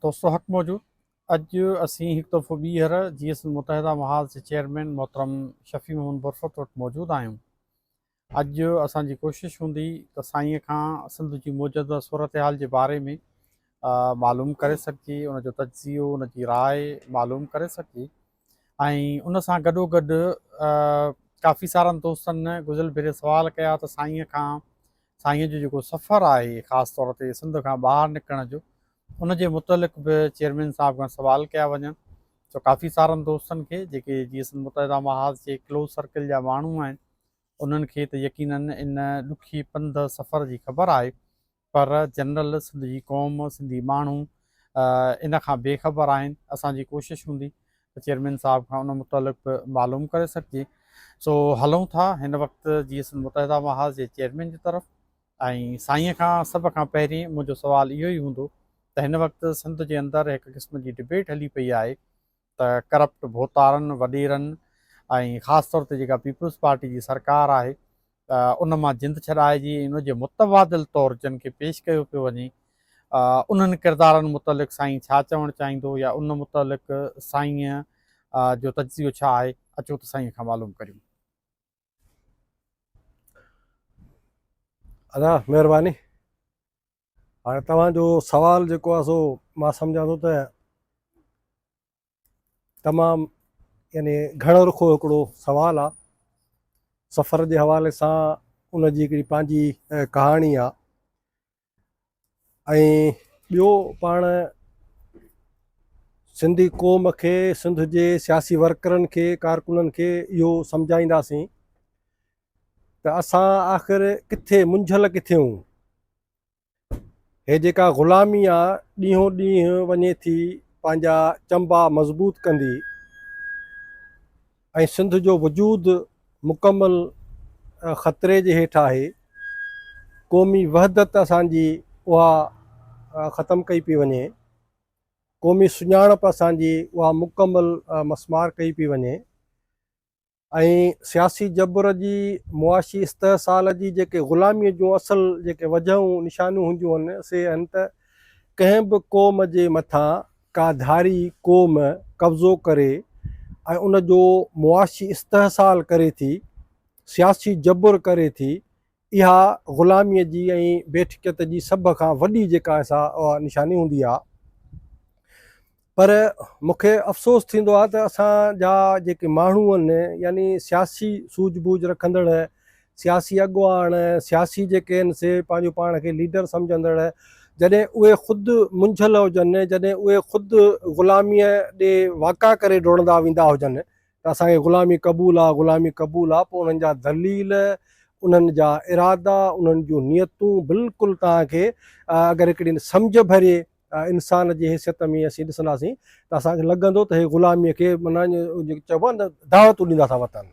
دوستو حق موجود اڄ اسين هڪ دفعو ٻيهر جي ايس متحده محاذ جي چيئرمين محترم شفيع محمد برفت وٽ موجود آهيون اڄ اسان جي ڪوشش هوندي ته سائين کان سنڌ جي موجوده صورتحال جي باري ۾ معلوم ڪري سگهجي ان جو تجزيو ان جي راء معلوم ڪري سگهجي ۽ ان سان گڏو گڏ ڪافي سارن دوستن گذريل ڀيري سوال ڪيا ته سائينء کان سائينء جو جيڪو سفر آهي خاص طور تي سنڌ کان ٻاهر نڪرڻ جو ان جي متعلق به چيئرمين صاحب کان سوال ڪيا وڃن سو ڪافي سارن دوستن کي جيڪي جي سنڌ متحده محاذ جي ڪلوز سرڪل جا ماڻهو آهن انهن کي ته يقينن ان ڏکي پنڌ سفر جي خبر آهي پر جنرل سنڌ جي قوم سنڌي ماڻهو ان کان بي خبر آهن اسان جي ڪوشش هوندي ته چيئرمين صاحب کان ان متعلق به معلوم ڪري سگهجي سو هلون ٿا هن وقت جي سنڌ متحده محاذ جي چيئرمين جي طرف ۽ سائين کان سڀ کان پهرين منهنجو سوال اهو ئي هوندو ته هن وقت سنڌ جي اندر هڪ قسم جي ڊبيٽ هلي پئي آهي ته ڪرپٽ ڀوتارن، وڏيرن ۽ خاص طور تي جيڪا پيپلز پارٽي جي سرڪار آهي ان مان جند ڇڏائجي ۽ ان جي متبادل طور جن کي پيش ڪيو پيو وڃي انهن ڪردارن متعلق سائين ڇا چوڻ چاهيندو يا ان متعلق سائين جو تجزيو ڇا آهي اچو ته سائين کان معلوم ڪريون. ادا مهرباني هاڻي توهان جو سوال جيڪو آهي سو مان سمجهان ٿو ته تمام يعني گهڻو رخو هڪڙو سوال آ سفر جي حوالي سان ان جي هڪڙي پنهنجي ڪهاڻي آ ۽ ٻيو پاڻ سنڌي قوم کي سنڌ جي سياسي ورڪرن کي ڪارڪنن کي اهو سمجهائينداسين ته اسان آخر ڪٿي منجهيل ڪٿيون؟ هي جيڪا غلامي آ ڏينهون ڏينهن وڃي ٿي پنهنجا چنبا مضبوط ڪندي ۽ سنڌ جو وجود مڪمل خطري جي هيٺ آهي قومي وحدت اسان جي اها ختم ڪئي پي وڃي قومي سڃاڻپ اسان جي اها مڪمل مسمار ڪئي پي وڃي ۽ سياسي جبر جي، معاشي استحصال جي جيڪي غلاميء جون اصل جيڪي وجهون نشانيون هونديون هن، سي هن ته ڪنهن به قوم جي مٿان ڪا ڌاري قوم قبضو ڪري ۽ ان جو معاشي استحصال ڪري ٿي، سياسي جبر ڪري ٿي، اها غلاميء جي ۽ بيٺڪيت جي سڀ کان وڏي جيڪا سا نشاني هوندي آهي. پر مون کي افسوس ٿيندو آهي ته اسان جا جيڪي ماڻهو آهن يعني سياسي سوجهه بوجهه رکندڙ سياسي اڳواڻ سياسي جيڪي آهن سي پنهنجو پاڻ کي ليڊر سمجهندڙ جڏهن اهي خود منجهيل هجن جڏهن اهي خود غلاميء ڏي واڪا ڪري ڊوڙندا ويندا هجن ته اسان کي غلامي قبول آ، غلامي قبول آ، پوء انهن جا دليل، انهن جا ارادا، انهن جون نيتون بلڪل توهان کي اگر هڪڙي سمجهه ڀري انسان جي حيثيت ۾ اسين ڏسنداسين ته اسان کي لڳندو ته هي غلامي کي معنيٰ چئبو آ نه دعوتون ڏيندا ٿا وتن.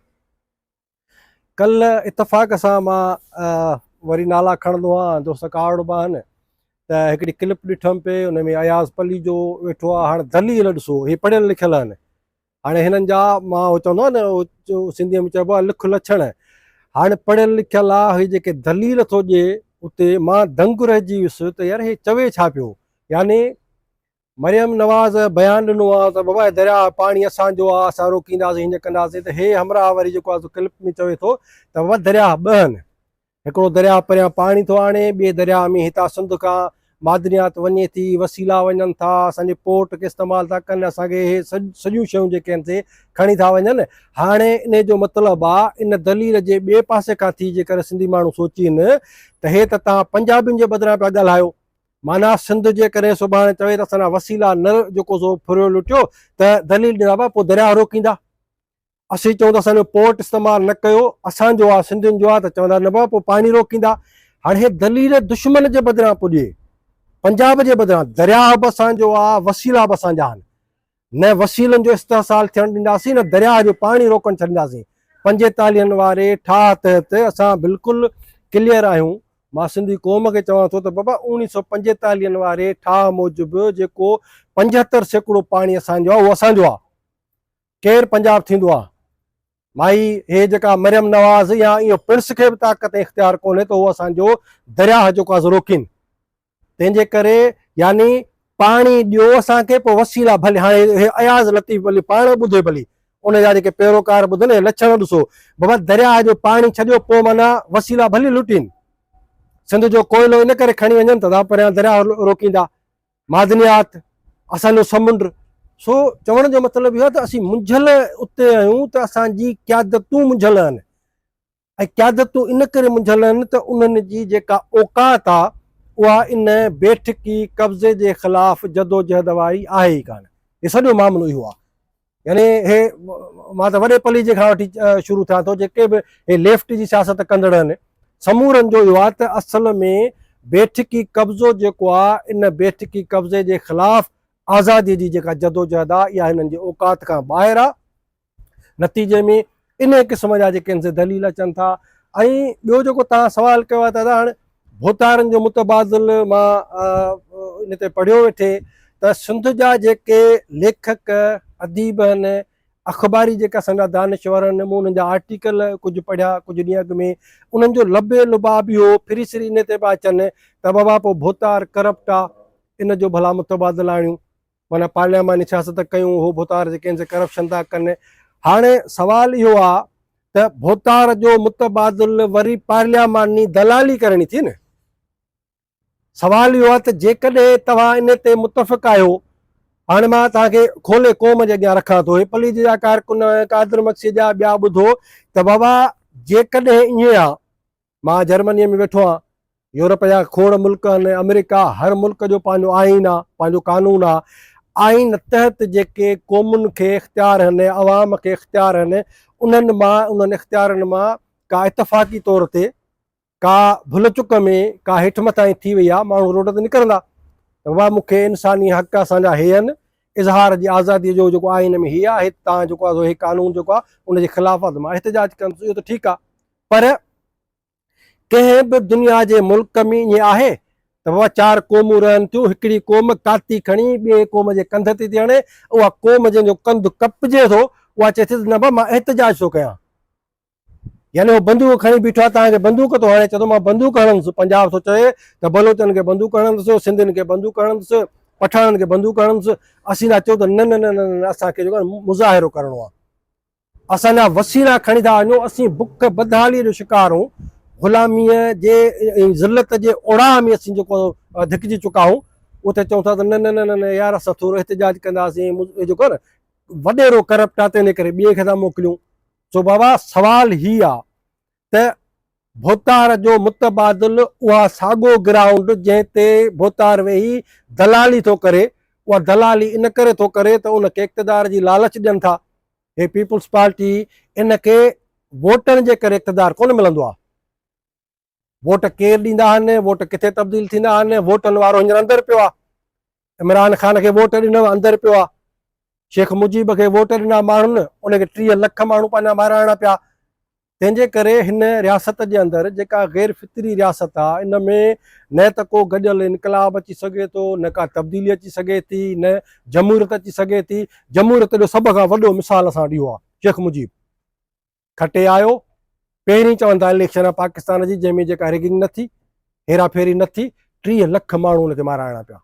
ڪلھ اتفاق سان مان وري نالا کڻندو آھيان دوست ڪارڙ به آھن ته هڪڙي ڪلپ ڏٺم پئي ان ۾ اياز پليجو ويٺو آ هاڻ دليل ڏسو هي پڙهيل لکيل آھن هاڻي هنن جا مان هو چوندو آ نه سنڌي ۾ چئبو آ لک لڇڻ هاڻ پڙهيل لکيل آ هي جيڪي دليل ٿو ڏي اتي مان دنگ رهجي ويس ته يار هي چوي ڇا پيو يعني مريم نواز بيان ڏنو آ ته بابا درياء پاڻي اسان جو آ اسان روڪينداسين هينئن ڪنداسين ته هي همراهه وري جيڪو آ سو ڪلپ ۾ چوي ٿو ته بابا درياء ٻه آهن هڪڙو درياء پريان پاڻي ٿو آڻي ٻئي درياء ۾ هتان سنڌ کان معدنيات وڃي ٿي وسيلا وڃن ٿا اسان جي پورٽ کي استعمال ٿا ڪن اسان کي هي سڄيون شيون جيڪي آهن سي کڻي ٿا وڃن هاڻي ان جو مطلب آ ان دليل جي ٻئي پاسي کان ٿي جيڪر سنڌي ماڻهو سوچين ته هي ته تان پنجابين جي بدران پيا ڳالهايو معنيٰ سنڌ جيڪڏهن سڀاڻي چوي ته اسان جا وسيلا نه جيڪو سو ڦريو لٽيو ته دليل ڏيندا بابا پوء درياهه روڪيندا اسين چون ته اسان جو پورٽ استعمال نه ڪيو اسان جو آهي سنڌين جو آهي ته چوندا نه بابا پوء پاڻي روڪيندا هاڻي هي دليل دشمن جي بدران پڄي پنجاب جي بدران درياهه به اسان جو آهي وسيلا به اسان جا آهن نه وسيلن جو استحصال ٿيڻ ڏينداسين نه درياهه جو پاڻي روڪڻ ڇڏينداسين پنجيتاليهن واري ٺاهه تحت اسان بلڪل ڪليئر آهيون مان سنڌي قوم کي چوان ٿو ته بابا اوڻيهه سؤ پنجيتاليهن واري ٺاهه موجب جيڪو پنجهتر سيڪڙو پاڻي اسان جو آهي اهو اسان جو آهي ڪير پنجاب ٿيندو آهي مائي هي جيڪا مريم نواز يا اهو پرس کي به طاقت اختيار ڪونهي ته اهو اسان جو درياهه جيڪو آزو روڪين تنهن جي ڪري يعني پاڻي ڏيو اسان کي پوء وسيلا ڀلي هاڻي اياز لطيف ڀلي پاڻ ٻڌي ڀلي ان جا جيڪي پيروڪار ٻڌن اهي لڇڻ ڏسو بابا درياء جو پاڻي ڇڏيو پوء معنيٰ وسيلا ڀلي لٽين سنڌ جو ڪوئلو ان ڪري کڻي وڃن ته تان پريان درياء روڪيندا معدنيات اسان جو سمنڊ سو چوڻ جو مطلب اهو ته اسين منجهل اتي آهيون ته اسان جي قيادتون منجهل آهن ۽ قيادتون ان ڪري منجهيل آهن ته انهن جي جيڪا اوقات آ اها ان بيٺڪي قبضي جي خلاف جدوجهد واري آهي ئي ڪانه. هي سڄو معاملو اهو آ. يعني هي مان ته وڏي پليجي کان وٺي شروع ٿيان ٿو جيڪي به هي ليفٽ جي سياست ڪندڙ آهن سمورن جو اهو آ ته اصل ۾ بيٺڪي قبضو جيڪو آ ان بيٺڪي قبضي جي خلاف آزادي جي جيڪا جدوجهد آ اها هنن جي اوقات کان ٻاهر آ نتيجي ۾ انهي قسم جا جيڪي انسي دليل اچن ٿا ۽ ٻيو جيڪو توهان سوال ڪيو آهي ته ادا هاڻ ڀوتارن جو متبادل مان ان تي پڙهيو ويٺي ته سنڌ جا جيڪي ليکڪ اديب آهن اخباري جيڪا اسان جا دانشور آهن مون انهن جا آرٽيڪل ڪجهه پڙهيا ڪجهه ڏينهن اڳ ۾ انهن جو لبي لباب اهو ڦري سري ان تي پيا اچن ته بابا پوء ڀوتار ڪرپٽ آ ان جو ڀلا متبادل آڻيون معنيٰ پارلياماني سياست ڪيون اهو ڀوتار جي ڪنهن سان ڪرپشن ٿا ڪن هاڻي سوال اهو آ ته ڀوتار جو متبادل وري پارلياماني دلالي ڪرڻي ٿي نه سوال اهو آ ته جيڪڏهن توهان ان تي متفق آهيو هاڻي مان توهان کي کولي قوم جي اڳيان رکان ٿو هي پلي جي جا ڪارڪن قادر مگسي جا ٻيا ٻڌو ته بابا جيڪڏهن ائين آ مان جرمنيء ۾ ويٺو آهيان. يورپ جا کوڙ ملڪ آهن ۽ آمريڪا، هر ملڪ جو پنهنجو آئين آهي، پنهنجو قانون آهي. آئين تحت جيڪي قومن کي اختيار آهن يا عوام کي اختيار آهن، انهن مان، انهن اختيارن مان ڪا اتفاقي طور تي، ڪا ڀل چڪ ۾ ڪا هيٺ مٿانهين ٿي وئي آهي، ماڻهو روڊ تي نڪرندا ته بابا مون کي انساني حق اسان جا هي آهن، اظهار جي آزاديء جو جيڪو آئين ۾ هي آهي، توهان جيڪو آهي سو هي قانون جيڪو آهي ان جي خلاف آهي ته مان احتجاج ڪندس، اهو ته ٺيڪ آهي. پر ڪنهن به دنيا جي ملڪ ۾ ائين آهي ته بابا چار قومون رهن ٿيون، هڪڙي قوم ڪاتي کڻي ٻئي قوم جي ڪنڌ تي ٿي هڻي، اها قوم جنهن جو ڪنڌ ڪپجي ٿو، اها چئي ٿي ته نه بابا مان احتجاج ٿو ڪيان. يعني هو بندوق کڻي بيٺو آهي، توهان کي بندوق ٿو هڻي، چئي ٿو مان بندوق هڻندس، پنجاب ٿو چوي ته بلوچن کي بندوق هڻندس، سنڌين کي بندوق هڻندس، پٺاڻن کي بندوق هڻندس، اسين ٿا چئون ته نه نه نه نه نه اسان کي جيڪو آهي مظاهرو ڪرڻو آهي. اسان جا وسيلا کڻي ٿا وڃو، اسين بک بدحاليء جو شڪار هون، غلاميء جي ۽ ذلت جي اوڙاهه ۾ اسين جيڪو ڌڪجي چڪا هون، اتي چئون ٿا ته نه نه نه نه يار اسان ٿورو احتجاج ڪنداسين، اهو جيڪو آهي نه وڏيرو ڪرپٽ آهي تنهن جي ڪري ٻئي کي ٿا موڪليون. سو بابا سوال هي آ ته ڀوتار جو متبادل اها ساڳو گرائونڊ جنهن تي ڀوتار ويهي دلالي ٿو ڪري اها دلالي ان ڪري ٿو ڪري ته ان کي اقتدار جي لالچ ڏين ٿا هي پيپلز پارٽي ان کي ووٽن جي ڪري اقتدار ڪونه ملندو آهي ووٽ ڪير ڏيندا آهن ووٽ ڪٿي تبديل ٿيندا آهن ووٽن وارو هينئر اندر پيو آهي عمران خان کي ووٽ ڏنو اندر پيو آهي شيخ مجيب کي ووٽ ڏنا ماڻهن ان کي ٽيهه لک ماڻهو پنهنجا مارائڻا پيا تنهن جي ڪري هن رياست جي اندر جيڪا غير فطري رياست آ ان ۾ نه ته ڪو گڏيل انقلاب اچي سگهي ٿو نه ڪا تبديلي اچي سگهي ٿي نه جمهوريت اچي سگهي ٿي جمهوريت جو سڀ کان وڏو مثال اسان ڏيو آ شيخ مجيب کٽي آيو پهرين چوندا اليڪشن آ پاڪستان جي جنهن ۾ جيڪا ريگنگ نه ٿي هيرا ڦيري نه ٿي ٽيهه لک ماڻهو ان کي مارائڻا پيا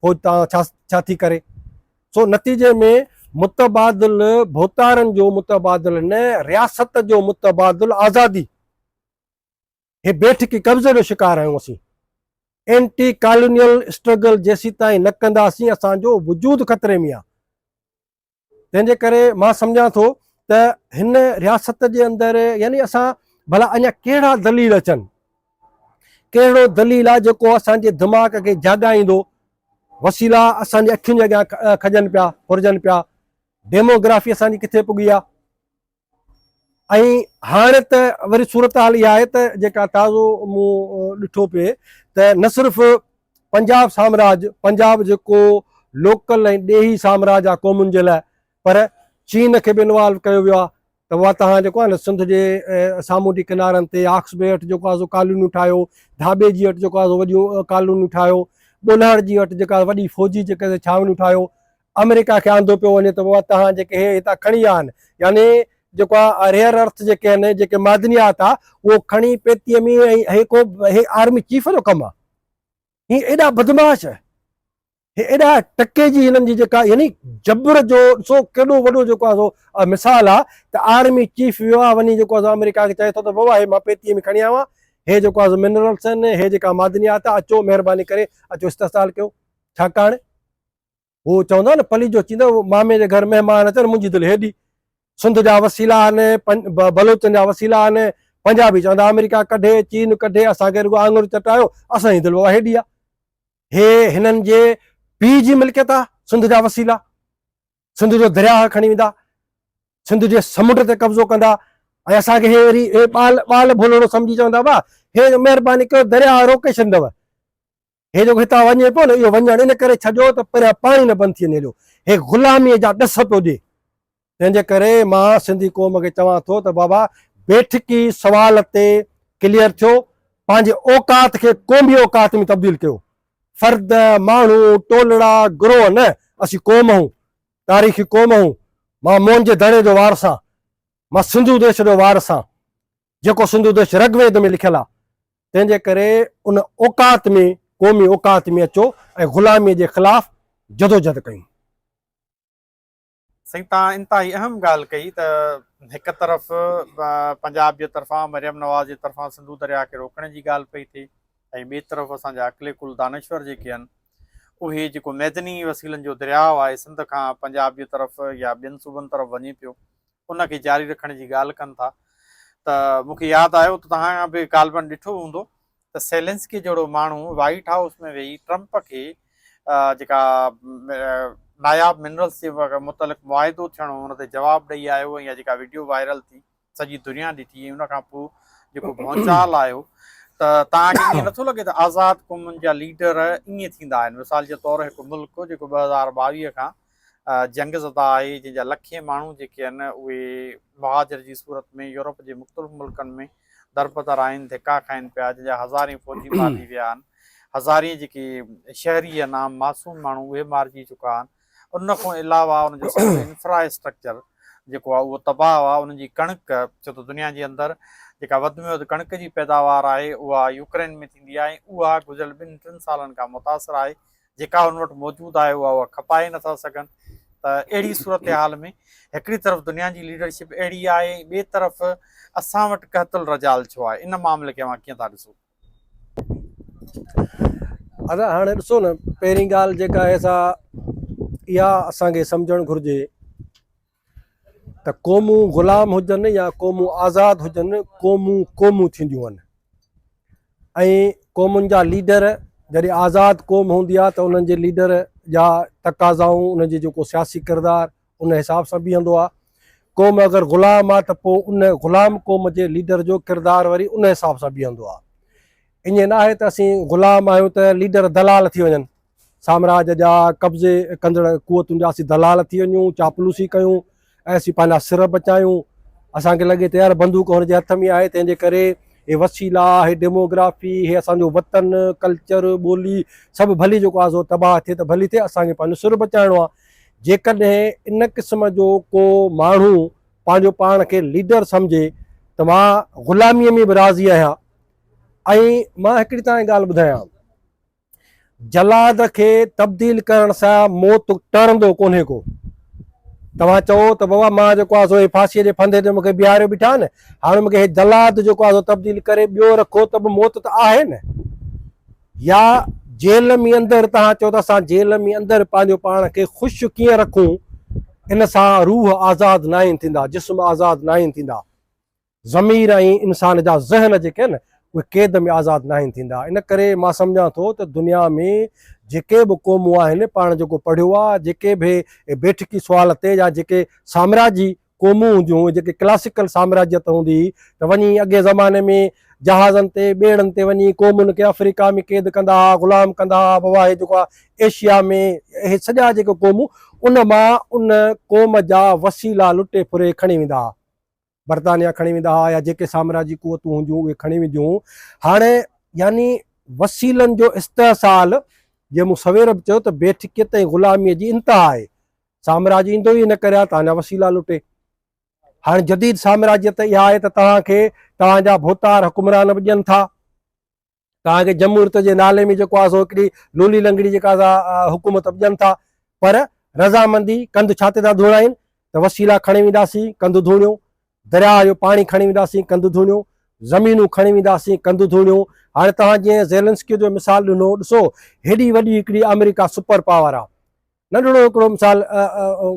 پوء تان ڇا ڇا ٿي ڪري. سو نتيجي ۾ متبادل ڀوتارن جو متبادل نه رياست جو متبادل آزادي هي بيٺڪي قبضي جو شڪار آهيون اسين اينٽي ڪالونيل اسٽرگل جيسيتائين نه ڪنداسين اسان جو وجود خطري ۾ آهي تنهن جي ڪري مان سمجهان ٿو ته هن رياست جي اندر يعني اسان ڀلا اڃا ڪهڙا دليل اچن ڪهڙو دليل آ جيڪو اسان جي دماغ کي جاڳائيندو وسيلا اسان جي اکين جي اڳيان کڄن پيا ڦرجن پيا ڊيموگرافي اسان جي ڪٿي پڳي آ ۽ هاڻ ته وري صورتحال اها آهي ته جيڪا تازو مون ڏٺو پئي ته نه صرف پنجاب سامراج پنجاب جيڪو لوڪل ۽ ڏيهي سامراج آ قومن جي لاء پر چين کي به انوالو ڪيو ويو آهي ته اها تهان جيڪو آهي نه سنڌ جي سامونڊي ڪنارن تي آڪس بي هٽ جيڪو آهي ڪالونيون ٺاهيو ڌاٻي جي هٽ جيڪو آهي وڏيون ڪالونيون ٺاهيو ٻولهاڙ جي هٽ جيڪا وڏي فوجي جيڪا ڇاونيون ٺاهيو آمريڪا کي آندو پيو وڃي ته بابا توهان جيڪي هي هتان کڻي آن يعني جيڪو آ ريئر ارٿ جيڪي آهن جيڪي معدنيات آ اهو کڻي پيتيء ۾ ۽ هي ڪو هي آرمي چيف جو ڪم آ هي ايڏا بدمعاش هي ايڏا ٽڪي جي هنن جي جيڪا يعني جبر جو سو ڪيڏو وڏو جيڪو آ سو مثال آ ته آرمي چيف ويو آ وڃي جيڪو آ آمريڪا کي چئي ٿو ته بابا هي مان پيتيء ۾ کڻي آيو آ هي جيڪو آ منرلس آهن هي جيڪا معدنيات آ اچو مهرباني ڪري اچو استحصال ڪيو ڇاڪاڻ هو چوندا آهن نه پليجو چيندا آهن مامي جي گهر مهمان اچن منهنجي دل هيڏي سنڌ جا وسيلا آهن بلوچن جا وسيلا آهن پنجابي چوندا آمريڪا ڪڍي چين ڪڍي اسان کي رڳو آڱر چٽايو اسان جي دل بابا هيڏي آهي هي هنن جي پي جي ملڪيت آهي سنڌ جا وسيلا سنڌ جو درياهه کڻي ويندا سنڌ جي سمنڊ تي قبضو ڪندا ۽ اسان کي هي وري هي ٻال ٻال ڀولڙو سمجهي چوندا وا هي مهرباني ڪيو درياهه روڪي ڇڏندو هي جيڪو هتان وڃي پيو نه اهو وڃڻ ان ڪري ڇڏيو ته پريان پاڻي نه بند ٿي وڃي هيڏو هي غلامي جا ڏس پيو ڏي تنهن جي ڪري مان سنڌي قوم کي چوان ٿو ته بابا بيٺڪي سوال تي ڪليئر ٿيو پنهنجي اوقات کي قومي اوقات ۾ تبديل ڪيو فرد ماڻهو ٽولڙا گروه نه اسين قوم آهون تاريخي قوم آهون مان موهن جي دڙي جو وارث آهيان مان سنڌو ديش جو وارث آهيان جيڪو سنڌو دش رگ ويد ۾ لکيل آ تنهن جي ڪري ان اوقات ۾ قومي اوقات ۾ اچو ۽ غلامي جي خلاف جدوجھد ڪيون. سائين تان انتهائي اهم ڳالهه ڪئي ته هڪ طرف پنجاب جي طرفان مريم نواز جي طرفان سنڌو درياء کي روڪڻ جي ڳالهه پئي ٿئي ۽ ٻي طرف اسان جا عقل ڪل دانشور جيڪي ان اهي جيڪو ميدني وسيلن جو درياء آهي سنڌ کان پنجاب جي طرف يا ٻين صوبن طرف وڃي پيو ان کي جاري رکڻ جي ڳالهه ڪن ٿا ته مون کي ياد آيو ته توهان به غالبن ڏٺو هوندو ته سيلنسڪي جهڙو ماڻهو وائيٽ هائوس ۾ ويهي ٽرمپ کي جيڪا ناياب منرلز جي متعلق معاهدو ٿيڻو ان تي جواب ڏئي آيو ۽ جيڪا ويڊيو وائرل ٿي سڄي دنيا ڏٺي ۽ ان کان پوء جيڪو ڀونچال آيو ته توهان کي ائين نٿو لڳي ته آزاد قومن جا ليڊر ائين ٿيندا آهن مثال جي طور هڪ ملڪ جيڪو ٻه هزار ٻاويهه کان جنگ زده آهي جنهن جا لکين ماڻهو جيڪي آهن اهي مهاجر جي صورت ۾ يورپ جي مختلف ملڪن ۾ دربدر آهن ڌڪا کائن پيا جنهن جا هزارين فوجي مارجي ويا آهن هزارين جيڪي شهري آهن عام معصوم ماڻهو اهي مارجي چڪا آهن ان کان علاوه ان جو سڄو انفراسٽرڪچر جيڪو آهي اهو تباهه آهي ان جي ڪڻڪ ڇو ته دنيا جي اندر جيڪا وڌ ۾ وڌ ڪڻڪ جي پيداوار آهي اها يوڪرين ۾ ٿيندي آهي ۽ اها گذريل ٻن ٽن سالن کان متاثر آهي جيڪا هن وٽ موجود آهي اها هو کپائي نٿا سگهن ته اهڙي صورتحال ۾ هڪڙي طرف دنيا جي ليڊرشپ اهڙي آهي ۽ ٻئي طرف اسان وٽ قحط الرجال ڇو آهي ان معاملي کي اوهان ڪيئن ٿا ڏسو؟ ادا هاڻي ڏسو نه پهرين ڳالهه جيڪا آهي سا اها اسان کي سمجهڻ گهرجي ته قومون غلام هجن يا قومون آزاد هجن قومون قومون ٿينديون آهن ۽ قومن جا ليڊر جڏهن آزاد قوم هوندي آهي ته انهن جي ليڊر جا تقاضائون انهن جي جيڪو سياسي ڪردار ان حساب سان بيهندو آهي قوم اگر غلام آهي ته پوء ان غلام قوم جي ليڊر جو ڪردار وري ان حساب سان بيهندو آهي ائين ناهي ته اسين غلام آهيون ته ليڊر دلال ٿي وڃن سامراج جا قبضي ڪندڙ قوتن جا اسين دلال ٿي وڃون چاپلوسي ڪيون ۽ اسين پنهنجا سر بچايون اسان کي لڳي ته يار بندوق هن جي هٿ ۾ آهي تنهن جي ڪري هي وسيلا هي ڊيموگرافي هي اسان جو وطن ڪلچر ٻولي سڀ ڀلي جيڪو آزو تباهه ٿئي ته ڀلي ٿئي اسان کي پنهنجو سر بچائڻو آهي جيڪڏهن ان قسم جو ڪو ماڻهو پنهنجو پاڻ کي ليڊر سمجهي ته مان غلاميء ۾ به راضي آهيان ۽ مان هڪڙي تان ڳالهه ٻڌايان جلاد کي تبديل ڪرڻ سان موت ٽرندو ڪونهي ڪو. توهان چئو ته بابا مان جيڪو آهي سو ڦاسيء جي ڦندي تي مونکي بيهاريو بيٺا آهن، هاڻي مونکي هي جلاد جيڪو آهي سو تبديل ڪري ٻيو رکو ته به موت ته آهي نه. يا جيل ۾ اندر توهان چئو ته اسان جيل ۾ اندر پنهنجو پاڻ کي خوش ڪيئن رکون، ان سان روح آزاد ناهن ٿيندا، جسم آزاد ناهن ٿيندا. ضمير ۽ انسان جا ذهن جيڪي آهن اهي قيد ۾ آزاد ناهن ٿيندا ان ڪري مان سمجهان ٿو ته دنيا ۾ جيڪي به قومون آهن پاڻ جيڪو پڙهيو آهي جيڪي به بيٺڪي سوال تي يا جيڪي سامراجي قومون هونديون هيون جيڪي ڪلاسيڪل سامراجيت هوندي هئي ته وڃي اڳئين زماني ۾ جهازن تي ٻيڙن تي وڃي قومن کي آفريڪا ۾ قيد ڪندا هئا غلام ڪندا هئا بابا هي جيڪو آهي ايشيا ۾ اهي سڄا جيڪي قومون ان مان ان قوم جا وسيلا لٽي ڦري کڻي ويندا هئا برطانيا کڻي ويندا ها يا جيڪي سامراجي قوتون هونديون اهي کڻي وينديون هون هاڻي يعني وسيلن جو استحصال جي مون سوير به چيو ته بيٺڪيت ۽ غلامي جي انتها آهي سامراج ايندو ئي هن ڪري آهي تان جا وسيلا لٽي هاڻي جديد سامراجيت اها آهي ته توهان کي توهان جا ڀوتار حڪمران به ڏين ٿا توهان کي جمهوريت جي نالي ۾ جيڪو آ سو هڪڙي لولي لنگڙي جيڪا سا حڪومت ڏين ٿا پر رضامندي ڪنڌ ڇاتي تان ڌوڻائين ته وسيلا کڻي وينداسين ڪنڌ ڌوڻيون درياهه جو پاڻي کڻي وينداسين ڪنڌ ڌوڻيون زمينون کڻي وينداسين ڪنڌ ڌوڻيون هاڻي توهان جي زيلنسڪي جو مثال ڏنو ڏسو هيڏي وڏي هڪڙي آمريڪا سپر پاور آ ننڍڙو هڪڙو مثال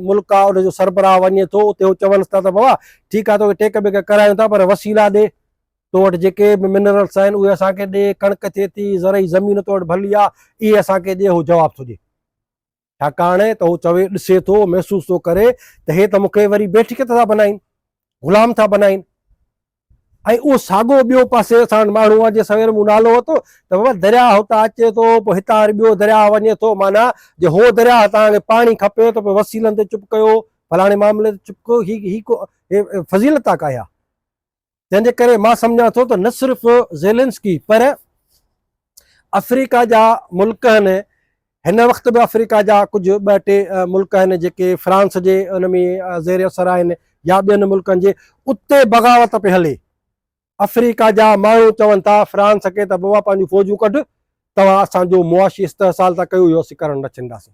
ملڪ آ ان جو سربراهه وڃي ٿو اتي هو چونس ٿا ته بابا ٺيڪ آ توکي ٽيڪ بيڪ ڪرايون ٿا پر وسيلا ڏي تو وٽ جيڪي به منرلس آهن اهي اسان کي ڏي ڪڻڪ ٿئي ٿي زرعي زمين تو وٽ ڀلي آ اهي اسان کي ڏي هو جواب ٿو ڏي ڇاڪاڻ ته هو چوي ڏسي ٿو محسوس ٿو ڪري ته هي ته مونکي وري بيٺڪ ٿا بنائين غلام ٿا بنائين ۽ اهو ساڳو ٻيو پاسي اسان وٽ ماڻهو آهي جنهن سوير مون نالو ورتو ته بابا درياهه هتان اچي ٿو پوء هتان وري ٻيو درياهه وڃي ٿو معنيٰ جي هو درياهه توهان کي پاڻي کپي ته پوء وسيلن تي چپ ڪيو فلاڻي معاملي تي چپ ڪيو هي هي ڪو فضيلت آ ڪاهي آ تنهن جي ڪري مان سمجهان ٿو ته نه صرف زيلنسڪي پر آفريڪا جا ملڪ آهن هن وقت به آفريڪا جا ڪجهه ٻه ٽي ملڪ آهن جيڪي فرانس جي ان ۾ زير اثر آهن يا ٻين ملڪن جي اتي بغاوت پئي هلي آفريڪا جا ماڻهو چون ٿا فرانس کي ته بابا پنهنجون فوجون ڪڍ توهان اسانجو معاشي استحصال ٿا ڪيو اهو اسين ڪرڻ نه ڇڏنداسين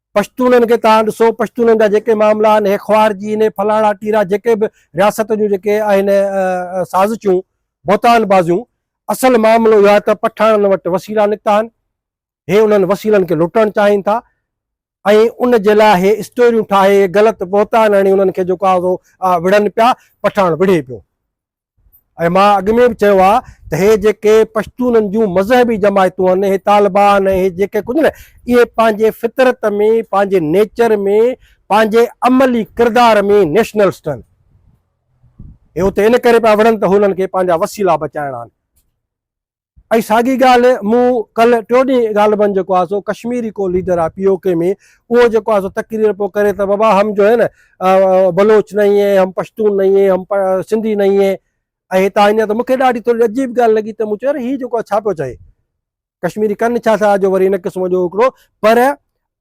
پشتونن کي تان ڏسو پشتونن جا جيڪي معاملا آهن هي خوار جي هن فلاڻا ٽيرا جيڪي به رياست جون جيڪي آهن سازشون بهتان بازيون اصل معاملو اهو آهي ته پٺاڻن وٽ وسيلا نڪتا آهن هي انهن وسيلن کي لٽڻ چاهين ٿا ۽ ان جي لاء هي اسٽوريون ٺاهي غلط بهتان هڻي انهن کي جيڪو آهي وڙهن پيا پٺاڻ وڙهي پيو ۽ مان اڳ ۾ به چيو آهي ته هي جيڪي پشتونن جون مذهبي جماعتون آهن هي طالبان ۽ هي جيڪي ڪجهه نه اهي پنهنجي فطرت ۾ پنهنجي نيچر ۾ پنهنجي عملي ڪردار ۾ نيشنلسٽ آهن هي اتي ان ڪري پيا وڙهن ته هنن کي پنهنجا وسيلا بچائڻا آهن. اھي ساڳي ڳالھ مون ڪلھ ٽيو ڏينھن غالبن جيڪو آھي سو ڪشميري ڪو ليڊر آھي پي او ڪي ۾ اھو جيڪو آھي سو تقرير پيو ڪري ته بابا ھم جو ھي نه بلوچ نھين ھي ھم پشتون نھين ھي ھم سنڌي نھين ھي ۽ ھتان اڃا ته مونکي ڏاڍي ٿوري عجيب ڳالھ لڳي ته مون چيو يار ھي جيڪو آھي ڇا پيو چوي ڪشميري ڪن ڇا ٿا جو وري ھن قسم جو ھڪڙو پر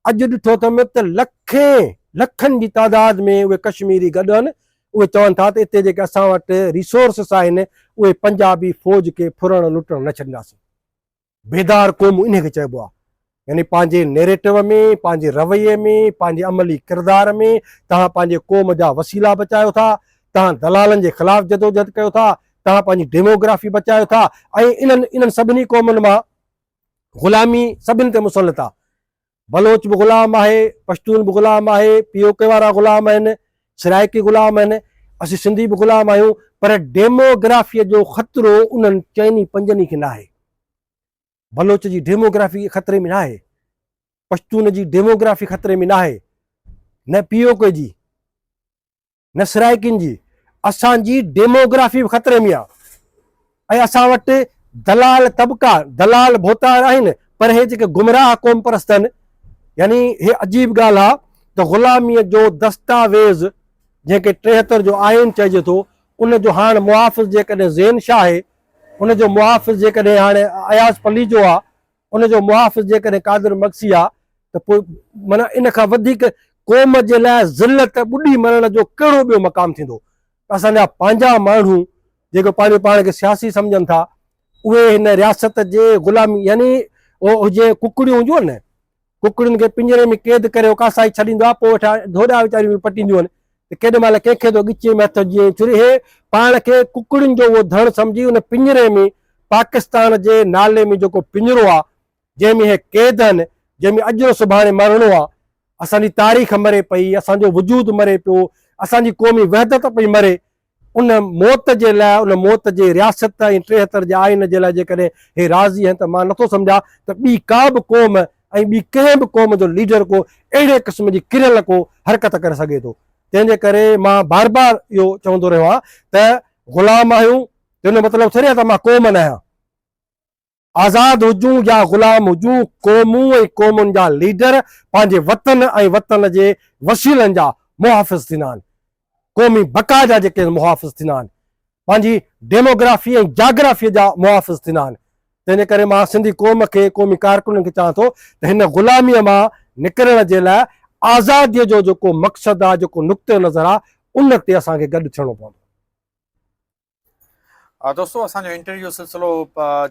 اڄ ڏٺو اٿم ته لکين لکن جي تعداد ۾ اهي ڪشميري گڏ آهن اهي چون ٿا ته اتي جيڪي اسان وٽ ريسورسس آهن اهي پنجابي فوج کي ڦرڻ لٽڻ نه ڇڏينداسين بيدار قومون انهي کي چئبو آهي يعني پنهنجي نيريٽو ۾ پنهنجي رويي ۾ پنهنجي عملي ڪردار ۾ توهان پنهنجي قوم جا وسيلا بچايو ٿا توهان دلالن جي خلاف جدوجهد ڪيو ٿا توهان پنهنجي ڊيموگرافي بچايو ٿا ۽ انهن انهن سڀني قومن مان غلامي سڀني تي مسلط آ، بلوچ به غلام آهي، پشتون به غلام آهي، پي او ڪي وارا غلام آهن، سرائيڪي غلام آهن، اسين سنڌي به غلام آهيون، پر ڊيموگرافيء جو خطرو انهن چئن ئي پنجن ئي کي ناهي. بلوچ جي ڊيموگرافي خطري ۾ ناهي، پشتون جي ڊيموگرافي خطري ۾ ناهي، نه پي او ڪي جي. نه سرائيڪين جي، اسان جي ڊيموگرافي به خطري ۾ آ ۽ اسان وٽ دلال طبقا، دلال ڀوتار آهن پر هي جيڪي گمراهه قوم پرست آهن يعني هي عجيب ڳالهه آ ته غلاميء جو دستاويز جنهن کي ٽيهتر جو آئين چئجي ٿو ان جو هاڻ محافظ جيڪڏهن زين شاهه آهي ان جو محافظ جيڪڏهن هاڻي اياز پليجو آ ان جو محافظ جيڪڏهن قادر مگسي آ ته پوء معنيٰ ان کان وڌيڪ قوم جي لاء ذلت ٻڏي مرڻ جو ڪهڙو ٻيو مقام ٿيندو؟ اسان جا پنهنجا ماڻهو جيڪي پنهنجو پاڻ کي سياسي سمجهن ٿا اهي هن رياست جي غلامي يعني هجي ڪڪڙيون هونديون آهن نه ڪڪڙين کي پڃري ۾ قيد ڪري اوڪاسائي ڇڏيندو آهي، پوء ويٺان ڍوڏا ويچاريون به پٽينديون آهن ته ڪيڏي مهل ڪنهن کي ٿو ڳچيء ۾ هٿ وجهي ۽ ڇري هي پاڻ کي ڪڪڙين جو اهو ڌڻ سمجهي ان پڃري ۾ پاڪستان جي نالي ۾ جيڪو پڃرو آهي، جنهن ۾ هي قيد آهن، جنهن ۾ اڄ نه سڀاڻي مرڻو آهي، اسان جي تاريخ مري پئي، اسان جو وجود مري پيو، اسان جي قومي وحدت پئي مري. ان موت جي لاء، ان موت جي رياست ۽ ٽيهتر جي آئين جي لاء جيڪڏهن هي راضي آهن ته مان نٿو سمجهان ته ٻي ڪا به قوم ۽ ٻي ڪنهن به قوم جو ليڊر ڪو اهڙي قسم جي ڪريل ڪو حرڪت ڪري سگهي ٿو. تنهن جي ڪري مان بار بار اهو چوندو رهيو آهيان ته غلام آهيون تنهن جو مطلب ٿوري آهي ته مان قوم نه آهيان. آزاد هجون يا غلام هجون، قومون ۽ قومن جا ليڊر پنهنجي وطن ۽ وطن جي وسيلن جا محافظ ٿيندا آهن. قومي بقا جا جيڪي محافظ ٿيندا آهن، پنهنجي ڊيموگرافي ۽ جاگرافيء جا محافظ ٿيندا آهن. تنهن جي ڪري مان سنڌي قوم کي، قومي ڪارڪنن کي چوان ٿو ته هن غلاميء مان نڪرڻ جي لاء آزاديء جو جيڪو مقصد آهي، جيڪو نقطه نظر آهي، ان تي اسان کي گڏ ٿيڻو پوندو. دوستو اسان جو انٽرويو سلسلو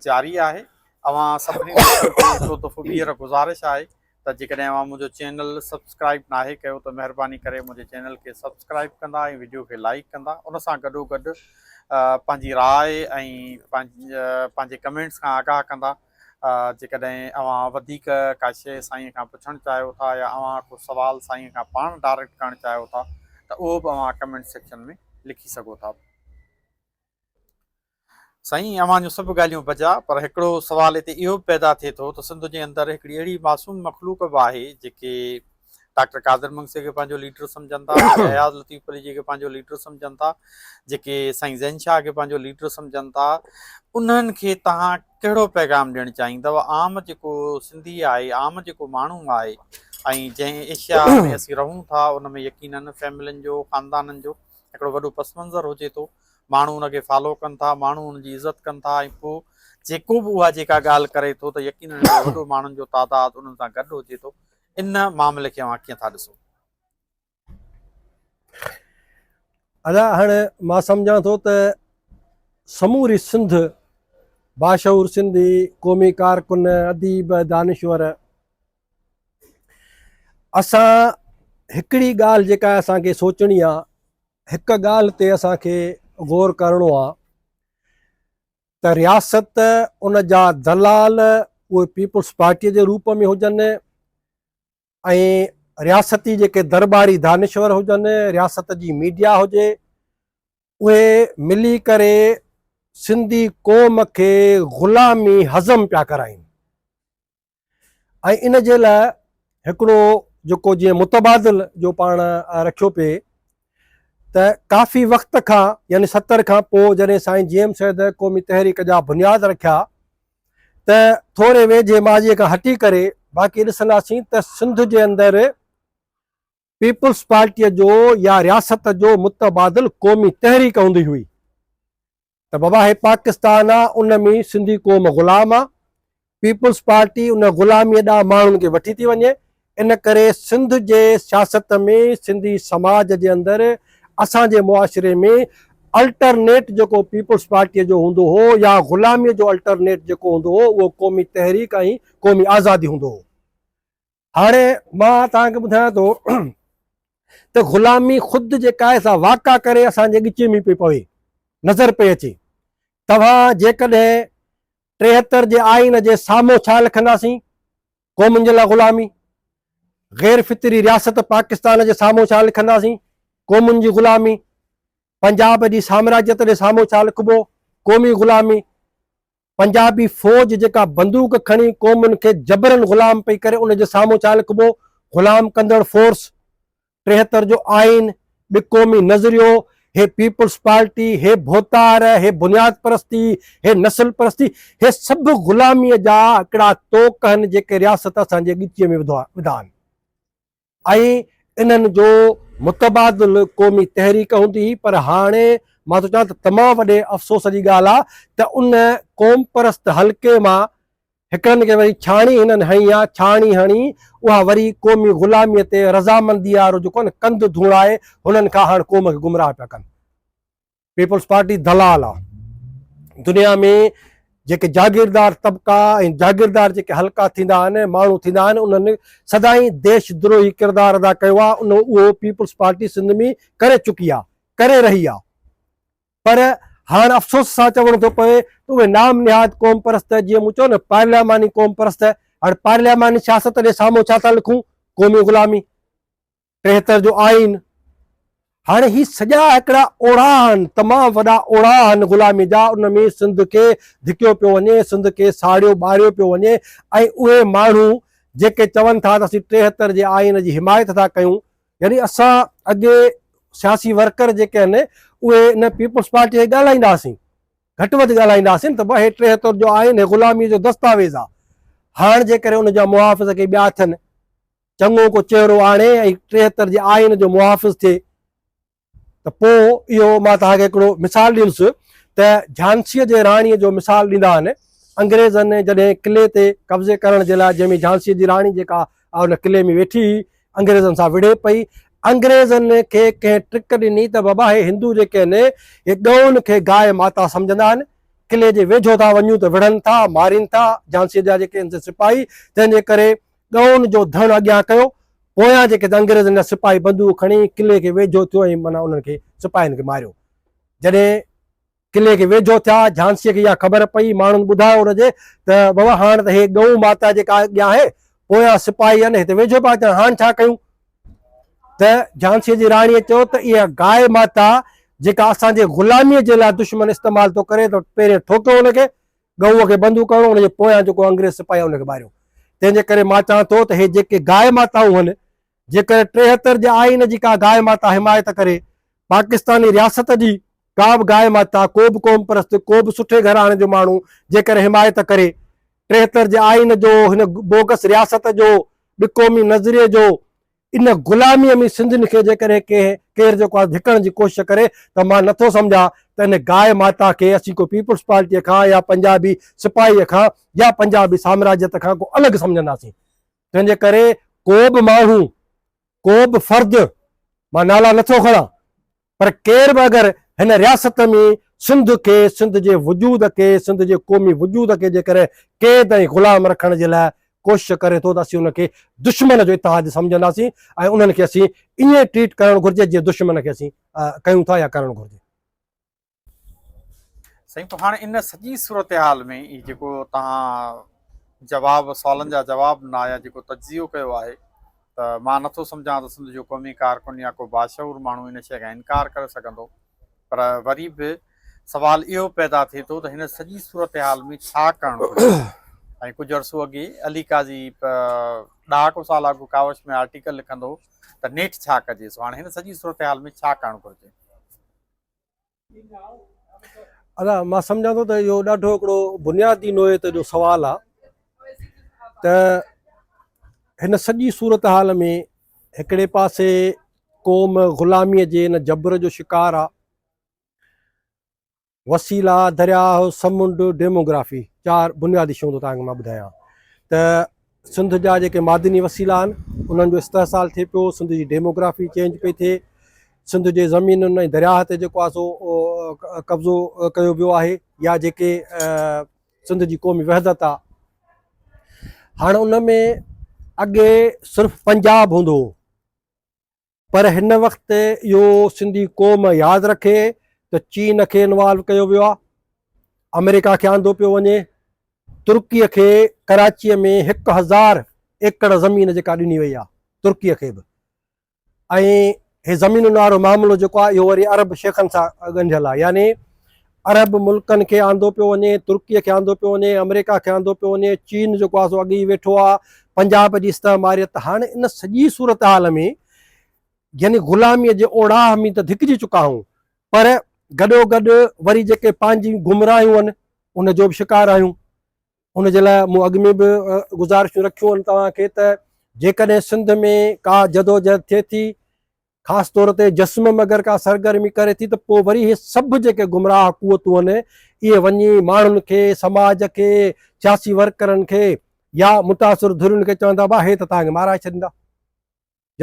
جاري آهي اوهان سڀني دوستن کي هڪڙو دفعو ٻيهر گذارش آهي ته جيڪڏهن اوهان منهنجو چينل سبسڪرائيب ناهي ڪيو ته مهرباني ڪري منهنجي چينل کي سبسڪرائيب ڪندا ۽ وڊيو کي لائيڪ ڪندا ان سان گڏو گڏ پنهنجي راء ۽ پنهنجي ڪمينٽس کان آگاهه ڪندا جيڪڏهن اوهان وڌيڪ ڪا شيء سائينء کان پڇڻ چاهيو ٿا يا اوهان ڪو سوال سائينء کان پاڻ ڊائريڪٽ ڪرڻ چاهيو ٿا ته اهو به اوهان ڪمينٽ سيڪشن ۾ لکي سگهو ٿا. سائين اوهان جون سڀ ڳالهيون بجا پر هڪڙو سوال هتي اهو به پيدا ٿئي ٿو ته سنڌ جي اندر هڪڙي اهڙي معصوم مخلوق به آهي جيڪي ڊاڪٽر قادر مگسي کي پنهنجو ليڊر سمجهن ٿا، اياز لطيف پليجي کي پنهنجو ليڊر سمجهن ٿا، جيڪي سائين زين شاهه کي پنهنجو ليڊر سمجهن ٿا، انهن کي توهان ڪهڙو پيغام ڏيڻ چاهيندؤ؟ عام جيڪو سنڌي آهي، عام جيڪو ماڻهو آهي ۽ جنهن ايشيا ۾ اسين رهون ٿا، ان ۾ يقينن فيملين جو، خاندانن جو هڪڙو وڏو پس منظر هجي ٿو، ماڻهو ان کي فالو ڪن ٿا، ماڻهو ان جي عزت ڪن ٿا ۽ پوء جيڪو به اها جيڪا ڳالهه ڪري ٿو ته يقينن اهڙو وڏو ماڻهن جو تعداد انهن سان گڏ هجي ٿو. ان معاملي کي اوهان ڪيئن ٿا ڏسو؟ ادا هاڻ مان سمجهان ٿو ته سموري سنڌ باشعور سنڌي قومي ڪارڪن اديب دانشور اسان هڪڙي ڳالهه جيڪا اسان کي سوچڻي آ هڪ ڳالهه تي اسان کي غور ڪرڻو آ ته رياست ان جا دلال اهي پيپلز پارٽيء جي روپ ۾ هجن ۽ رياستي جيڪي درباري دانشور هجن رياست جي ميڊيا هجي اهي ملي ڪري سنڌي قوم کي غلامي هضم پيا ڪرائين ۽ ان جي لاء هڪڙو جيڪو جيئن متبادل جو پاڻ رکيو پئي ته ڪافي وقت کان يعني ستر کان پوء جڏهن سائين جي ايم سيد قومي تحريڪ جا بنياد رکيا ته ٿوري ويجهي ماضي کان هٽي ڪري باقي ڏسنداسين ته سنڌ جي اندر پيپلز پارٽيء جو يا رياست جو متبادل قومي تحريڪ هوندي هئي ته بابا هي پاڪستان آ ان ۾ سنڌي قوم غلام آ پيپلز پارٽي ان غلاميء ڏانهن ماڻهن کي وٺي ٿي وڃي ان ڪري سنڌ جي سياست ۾ سنڌي سماج جي اندر اسان جي معاشري ۾ الٽرنيٽ جيڪو پيپلز پارٽيء جو هوندو هو يا غلاميء جو الٽرنيٽ جيڪو هوندو هو اهو قومي تحريڪ ۽ قومي آزادي هوندو هو هاڻي مان توهان کي ٻڌايان ٿو ته غلامي خود جيڪا آهي سا واقع ڪري اسان جي ڳچي ۾ پئي پوي نظر پئي اچي توهان جيڪڏهن ٽيهتر جي آئين جي سامهون ڇا لکنداسين قومن جي لاء غلامي غير فطري رياست پاڪستان جي سامهون ڇا لکنداسين قومن جي غلامي پنجاب جي سامراجيت جي سامهون ڇا لکبو قومي غلامي پنجابي فوج جيڪا بندوق کڻي قومن کي جبرن غلام پئي ڪري ان جي سامهون ڇا لکبو غلام ڪندڙ فورس ٽيهتر جو آئين ٻي قومي نظريو هي پيپلز پارٽي هي ڀوتار هي بنياد پرستي هي نسل پرستي هي سڀ غلامي جا هڪڙا توڪ هن جيڪي رياست اسان جي ڳچيء ۾ وڌا آهن ۽ انهن جو متبادل قومي تحريڪ هوندي هئي پر هاڻي مان ٿو چوان ته تمام وڏي افسوس جي ڳالهه آهي ته ان قومپرست حلقي مان هڪڙن کي وري ڇاڻي هنن هنئي آهي ڇاڻي هڻي اها وري قومي غلامي تي رضامندي وارو جيڪو آهي نه ڪنڌ ڌوڻائي هنن کان هاڻ قوم کي گمراهه پيا ڪن. پيپلز پارٽي دلال آ دنيا ۾ جيڪي جاگيردار طبقا ۽ جاگيردار جيڪي حلقا ٿيندا آهن ماڻهو ٿيندا آهن انهن سدائين ديش دروهي ڪردار ادا ڪيو آ ان اهو پيپلز پارٽي سنڌ ۾ ڪري چڪي آ ڪري رهي آ پر هاڻ افسوس سان چوڻو ٿو پوي ته اهي نام نهاد قوم پرست جيئن مون چيو نه پارلياماني قوم پرست هاڻ پارلياماني سياست جي سامهون ڇا ٿا لکون قومي غلامي ٽيهتر جو آئين، هاڻي هي سڄا هڪڙا اوڙاها آهن، تمام وڏا اوڙاها آهن غلامي جا، ان ۾ سنڌ کي ڌڪيو پيو وڃي، سنڌ کي ساڙيو ٻاريو پيو وڃي ۽ اهي ماڻهو جيڪي چون ٿا ته اسين ٽيهتر جي آئين جي حمايت ٿا ڪيون، يعني اسان اڳي سياسي ورڪر جيڪي آهن اهي ان پيپلز پارٽي کي ڳالهائيندا هئاسين، گهٽ وڌ ڳالهائيندا هئاسين ته بابا هي ٽيهتر جو آئين هي غلامي جو دستاويز آهي، هاڻ جيڪڏهن ان جا محافظ ڪي ٻيا ٿين، چڱو ڪو چهرو آڻي ۽ ٽيهتر جي آئين جو محافظ ٿئي ته پوء اهو مان توهان کي هڪڙو مثال ڏيندس ته جھانسيء جي راڻيء جو مثال ڏيندا آهن. انگريزن جڏهن قلعي تي قبضي ڪرڻ جي لاء جنهن ۾ جھانسيء جي راڻي جيڪا ان قلعي ۾ ويٺي هئي انگريزن سان وڙهي پئي انگريزن کي ڪنهن ٽرڪ ڏني ته بابا هي هندو جيڪي آهن هي ڳئون کي گاء ماتا سمجھندا آهن قلعي جي ويجھو ٿا وڃون ته وڙهن ٿا مارين ٿا جھانسيء جا جيڪي آهن سي سپاهي تنهن جي ڪري ڳئون جو ڌڻ اڳيان ڪيو، پويان جيڪي ته انگريزن جا سپاهي بندوق کڻي قلعي کي ويجهو ٿيو ۽ معنيٰ انهن کي سپاهين کي ماريو. جڏهن قلعي کي ويجهو ٿيا، جهانسيء کي اها خبر پئي، ماڻهن ٻڌايو ان جي ته بابا هاڻ ته هي ڳئون ماتا جيڪا اڳيان آهي، پويان سپاهي آهن، هتي ويجهو پيا اچن، هاڻ ڇا ڪيون؟ ته جهانسيء جي راڻيء چيو ته اها گاء ماتا جيڪا اسان جي غلاميء جي لاء دشمن استعمال ٿو ڪري ته پهرين ٺوڪيو ان کي، ڳئونء کي بندو ڪرڻو، ان جي پويان جيڪو انگريز سپاهي آهي ان کي ماريو. تنهن جي ڪري مان چوان ٿو ته هي جيڪي گاء ماتائون هن، جيڪڏهن ٽيهتر جي آئين جي ڪا گاء ماتا حمايت ڪري، پاڪستاني رياست جي ڪا به گاء ماتا، ڪو به قوم پرست، ڪو به سٺي گهراڻي جو ماڻهو جيڪڏهن حمايت ڪري، ٽيهتر جي آئين جو، هن بوگس رياست جو، ٻه قومي نظريي جو، ان غلاميء ۾ سنڌين کي جيڪڏهن ڪنهن ڪير جيڪو آهي ڌڪڻ جي ڪوشش ڪري ته مان نه ٿو سمجهان ته ان گاء ماتا کي اسين ڪو پيپلز پارٽيء کان يا پنجابي سپاهيء کان يا پنجابي سامراجيت کان ڪو الڳ سمجهنداسين. تنهن جي ڪري ڪو به ماڻهو، ڪو به فرد، مان نالا نه ٿو کڻان، پر ڪير به اگر هن رياست ۾ سنڌ کي، سنڌ جي وجود کي، سنڌ جي قومي وجود کي جيڪر قيد ۽ غلام رکڻ جي لاء ڪوشش ڪري ٿو ته اسين ان کي دشمن جو اتحاد سمجهنداسين ۽ انهن کي اسين ائين ٽريٽ ڪرڻ گهرجي جيئن دشمن کي اسين ڪيون ٿا يا ڪرڻ گهرجي. سائين پوء هاڻي ان سڄي صورتحال ۾ هي جيڪو توهان جواب سوالن جا جواب نه آيا جيڪو تجزيو ڪيو آهي ته مان نه ٿو سمجهان ته سنڌ جو قومي ڪارڪن يا ڪو باشعور ماڻهو ان شيء کان انڪار ڪري سگهندو پر وري به سوال اهو پيدا ٿئي ٿو ته هن سڄي صورتحال ۾ ڇا ڪرڻ گهرجي ۽ ڪجهه عرصو اڳي علي قاضي ڏهاڪو سال اڳ ڪاوش ۾ آرٽيڪل لکندو ته نيٺ ڇا ڪجي سو هاڻي هن سڄي صورتحال ۾ ڇا ڪرڻ گهرجي. ادا مان سمجھان ٿو ته اهو ڏاڍو هڪڙو بنيادي نوعيت جو سوال آ ته هن سڄي صورتحال ۾ هڪڙي پاسي قوم غلامي جي ان جبر جو شڪار آ وسيلا درياهه سمنڊ ڊيموگرافي چار بنيادي شيون ٿو تهان کي مان ٻڌايان ته سنڌ جا جيڪي معدني وسيلا آهن انهن جو استحصال ٿئي پيو سنڌ جي ڊيموگرافي چينج پئي ٿئي سنڌ جي زمينن ۽ درياهه تي جيڪو آسو قبضو ڪيو ويو آهي يا جيڪي سنڌ جي قومي وحدت آ هاڻ ان ۾ اڳي صرف پنجاب هوندو هو پر هن وقت اهو سنڌي قوم ياد رکي ته چين کي انوالو ڪيو ويو آهي، آمريڪا کي آندو پيو وڃي، ترڪي کي ڪراچي ۾ هڪ هزار ايڪڙ زمين جيڪا ڏني وئي آهي ترڪي کي به ۽ هي زمينن وارو معاملو جيڪو آهي اهو وري عرب شيخن سان ڳنڍيل آهي يعني عرب ملڪن کي آندو پيو وڃي، ترڪيء کي آندو پيو وڃي، آمريڪا کي آندو پيو وڃي، چين جيڪو آهي سو اڳ ئي ويٺو آهي، پنجاب جي استعماريت هاڻ ان سڄي صورتحال ۾ يعني غلاميء جي اوڙاهه ۾ ته ڌڪجي چڪا آهيون پر گڏو گڏ وري جيڪي پنهنجيون گمراهيون آهن ان جو به شڪار آهيون ان جي لاء مون اڳ ۾ به گذارشون رکيون آهن توهان کي ته جيڪڏهن سنڌ ۾ ڪا جدوجهد ٿئي ٿي خاص طور تي جسمم اگر ڪا سرگرمي ڪري ٿي ته پوء وري اهي سڀ جيڪي گمراهه قوتون آهن اهي وڃي ماڻهن کي، سماج کي، سياسي ورڪرن کي يا متاثر ڌرين کي چوندا به اهي ته تهان کي مارائي ڇڏيندا.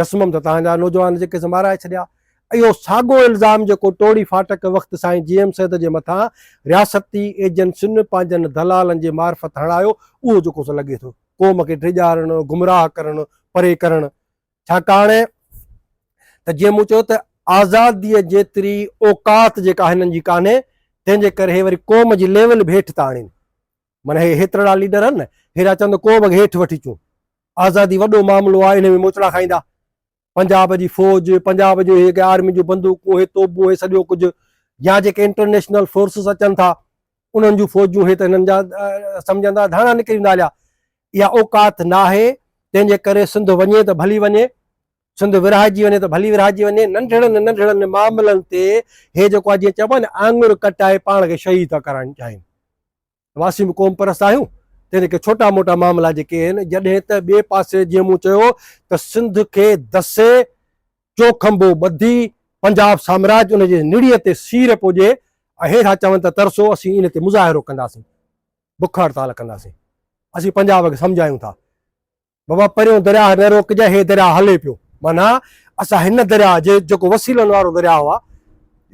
جسمم ته تهان جا نوجوان جيڪي سي مارائي ڇڏيا. اهو ساڳو الزام جيڪو ٽوڙي فاٽڪ وقت سائين جي ايم سيد جي مٿان رياستي ايجنسين پنهنجن دلالن جي معرفت هڻايو اهو جيڪو سو لڳي ٿو قوم کي ڊيڄارڻ، گمراهه ڪرڻ، پري ڪرڻ ڇاڪاڻ ته جيئن مون چيو ته آزاديء جيتري اوقات جيڪا هنن جي ڪانهي، تنهن جي ڪري هي وري قوم جي ليول به هيٺ ٿا آڻين. معنيٰ هي هيترڙا ليڊر آهن نه، هي ريا چون ته قوم کي هيٺ وٺي اچون. آزادي وڏو معاملو آهي، انهيء ۾ موچڙا کائيندا. پنجاب جي فوج، پنجاب جون هي آرمي جون بندوقون، هي توبون، هي سڄو ڪجهه يا جيڪي انٽرنيشنل فورسز اچن ٿا، انهن جون فوجون هي ته هنن جا سمجهندا، ڌاڻا نڪري ويندا هليا. اها اوقات ناهي، تنهن جي ڪري سنڌ وڃي ته ڀلي وڃي، سنڌ ورهائجي وڃي ته ڀلي ورهائجي وڃي، ننڍڙن ننڍڙن معاملن تي هي جيڪو آ جيئن چئبو آهي نه آڱر ڪٽائي پاڻ کي شهيد ٿا ڪرائڻ چاهين. واسين به قوم پرست آهيون، تنهن جي ڪري ڇوٽا موٽا معاملا جيڪي آهن، جڏهن ته ٻئي پاسي جيئن مون چيو ته سنڌ کي دسي، چوکنڀو ٻڌي، پنجاب سامراج ان جي نڙيء تي سير پوڄي ۽ هي ٿا چون ته ترسو، اسين ان تي مظاهرو ڪنداسين. بک هڙتال ڪنداسين اسين پنجاب کي سمجهايون ٿا بابا پريون درياهه نه روڪجي هي درياهه هلي پيو معنيٰ اسان هن درياهه جي جيڪو وسيلن وارو درياهه آهي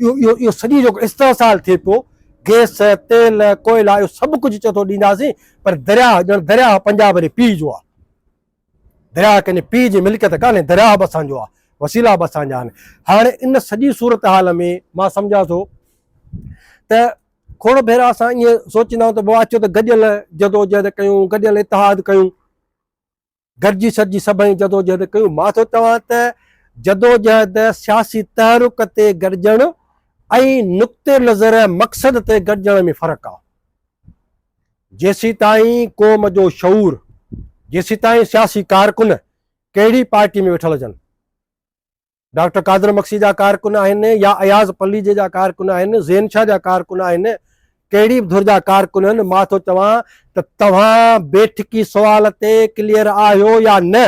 اهو اهو اهو سڄي جيڪو استحصال ٿئي پيو گيس تيل ڪوئلا اهو سڀ ڪجهه چئي ٿو ڏينداسين پر درياهه ڄڻ درياهه پنجاب جي پيء جو آهي درياهه ڪنهن جي پيء جي ملڪيت ڪانهي، درياهه به اسان جو آهي، وسيلا به اسان جا آهن. هاڻي ان سڄي صورتحال ۾ مان سمجهان ٿو ته کوڙ ڀيرا اسان ائين سوچيندا آهيون ته بابا اچو ته گڏيل جدوجهد ڪيون، گڏيل اتحاد ڪيون، گڏجي سڏجي سڀئي جدوجهد ڪيون. مان ٿو چوان ته جدوجهد سياسي تحرڪ تي گڏجڻ ۽ نقطه نظر مقصد تي گڏجڻ ۾ فرق آهي. جيسيتائين قوم جو شعور، جيسيتائين سياسي ڪارڪن ڪهڙي پارٽي ۾ ويٺل هجن، ڊاڪٽر قادر مگسي جا ڪارڪن آهن يا اياز پليجي جا ڪارڪن آهن، زين شاهه جا ڪارڪن آهن، ڪهڙي به ڌر جا ڪارڪن هن، مان ٿو چوان ته توهان بيٺڪي سوال تي ڪليئر آهيو يا نه؟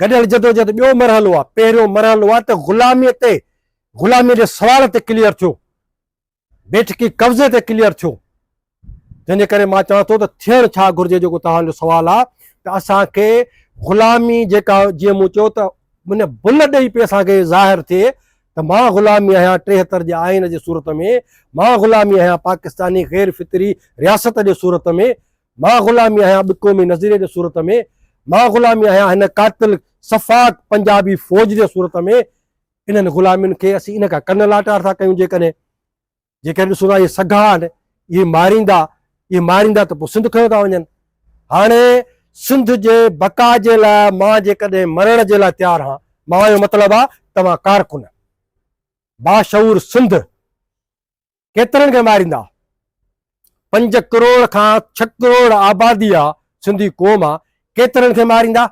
گڏيل جدوجهد ٻيو مرحلو آهي، پهريون مرحلو آهي ته غلامي تي غلامي جي سوال تي ڪليئر ٿيو، بيٺڪي قبضي تي ڪليئر ٿيو جنهن جي ڪري مان چوان ٿو ته ٿيڻ ڇا گهرجي جيڪو توهان جو سوال آهي ته اسان کي غلامي جيڪا جيئن مون چيو ته ان بل ڏئي پي اسان کي ظاهر ٿئي ته مان غلامي آهيان ٽيهتر جي آئين جي صورت ۾ مان غلامي آهيان پاڪستاني غير فطري رياست جي صورت ۾ مان غلامي آهيان بقومي نظريي جي صورت ۾ مان غلامي آهيان هن قاتل صفاق پنجابي فوج جي صورت ۾ انهن غلامين کي اسين ان کان ڪن لاٽار ٿا ڪيون جيڪڏهن جيڪڏهن ڏسون ٿا اهي سگها آهن اهي ماريندا اهي ماريندا ته پوء سنڌ کنيو ٿا وڃن هاڻي سنڌ جي بقا جي لاء مان جيڪڏهن مرڻ جي لاء تيار هان مان جو مطلب آ توهان ڪارڪن باشعور سنڌ ڪيترن کي ماريندا پنج ڪروڙ کان ڇھ ڪروڙ آبادي آ سنڌي قوم آ ڪيترن کي ماريندا